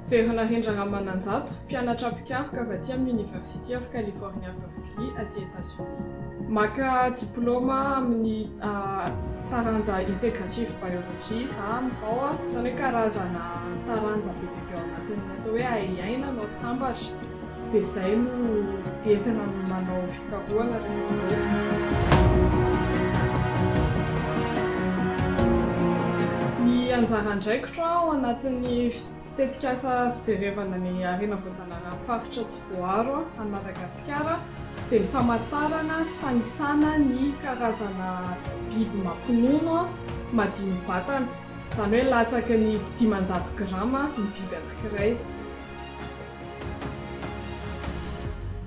Very Narendra Ramananjato, mpianatra mpikaroka avy aty amin'ny University of California Berkeley aty Etazonia. Maka diplaoma amin'ny taranja Integrative Biology za amin'izao, izany hoe karazana taranja be dia be ao anatin'ny atao hoe ahiahiana no atambatra. Dia izay no entina manao fikarohana rehefa avy eo. Ny anjara andraikitro ao anatin'ny tetikasa fijerevana ny harena voajalaran'ny faritra tsy voaaro any Madagasikara dia ny famatarana sy fanisana ny karazana biby mampinono madini-batana, izany hoe latsaky ny dimanjato grama ny biby anankiray.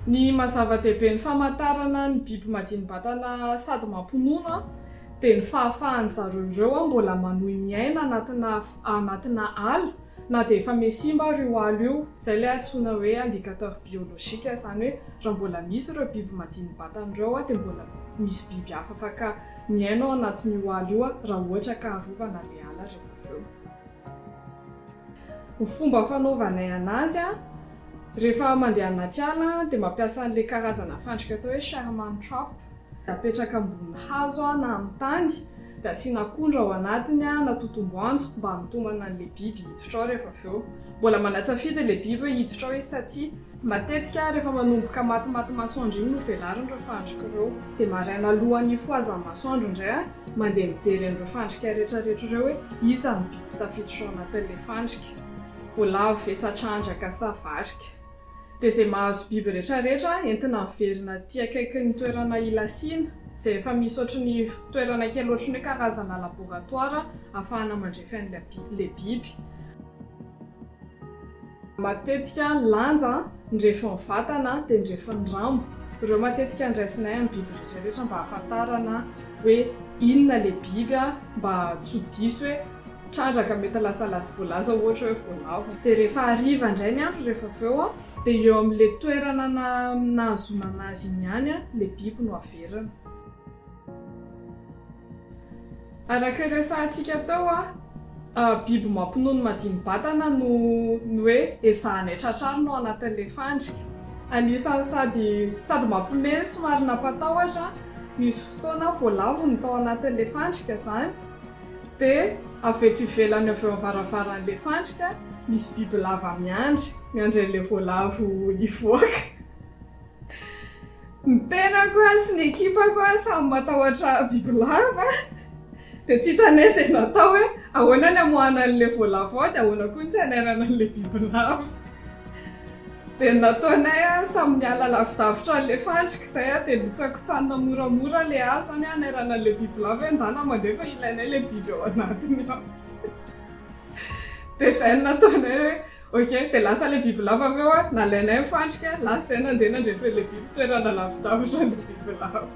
Ny maha zava-dehibe ny famantarana ny biby madini-batana sady mampinono dia ny fahafahan'ny zareo ireo mbola manohy miaina anatina anatina ala na dia efa mihasimba ary io ala io. Izay ilay antsoina hoe indicateur biologique, izany hoe raha mbola misy ireo biby madini-batana ireo dia mbola misy biby hafa afaka miaina ao anatin'io ala io raha ohatra ka arovana ilay ala rehefa avy eo. Ny fomba fanaovanay anazy a, rehefa mandeha anaty ala dia mampiasa an'ilay karazana fandrika atao hoe Sherman trap, apetraka ambony hazo na amin'ny tany dia asiana akondro ao anatiny na totom-boanjo mba hanitomana an'ilay biby hiditra ao rehefa avy eo. Mbola manatsafidy ilay biby hoe hiditra ao izy sa tsia. Matetika, rehefa manomboka matimaty masoandro iny no velariny ireo fandrika ireo. Dia maraina alohan'ny hifohazan'ny masoandro indray aho mandeha mijery an'ireo fandrika rehetrarehetra ireo hoe iza no biby tafiditra ao anatin'ilay fandrika. Voalavo ve sa trandraka sa varika. Dia izay mahazo biby rehetrarehetra entina averina aty akaikin'ny toerana ilasiana, izay efa misy ohatran'ny toerana kely ohatran'ny hoe karazana laboratoara ahafahana mandrefy an'ilay biby. Matetika lanja andrefon'ny vatana dia andrefon'ny rambo. Ireo matetika andraisinay amin'ny biby rehetra rehetra mba hahafantarana hoe inona ilay biby mba tsy ho diso hoe trandraka mety lasa la- voalaza ohatra hoe voalavo. Dia rehefa hariva indray ny andro rehefa avy eo dia eo amin'ilay toerana na- nahazoana anazy iny ihany ilay biby no averina. Araka ny resahantsika teo, biby mampinono madini-batana no ny hoe ezahanay tratrarina ao anatin'ilay fandrika. Anisan'ny sady sady mampiomehy no somary nampatahotra, nisy fotoana voalavony tao anatin'ilay fandrika izany, dia avy eto ivelany avy eo amin'ny varavaran'ilay fandrika misy bibilava miandry, miandry an'ilay voalavo hivoaka. Ny tenako sy ny ekipako samy matahotra bibilava dia tsy hitanay izay natao hoe ahoana ny hamoahana an'ilay voalavo ao dia ahoana koa ny tsy hanairana an'ilay bibilava. Dia ny nataonay samy niala lavidavitra an'ilay fandrika izay dia notsakotsanina moramora ilay hazo izany hoe hanairana an'ilay bibilava hoe andahy na mandeha fa ilainay ilay biby ao anatiny ao. Dia izay no nataonay hoe. Ok, dia lasa ilay bibilava avy eo an, nalainay ny fandrika, lasa izay nandeha nandre feo ilay biby, toerana lavidavitra ny bibilava.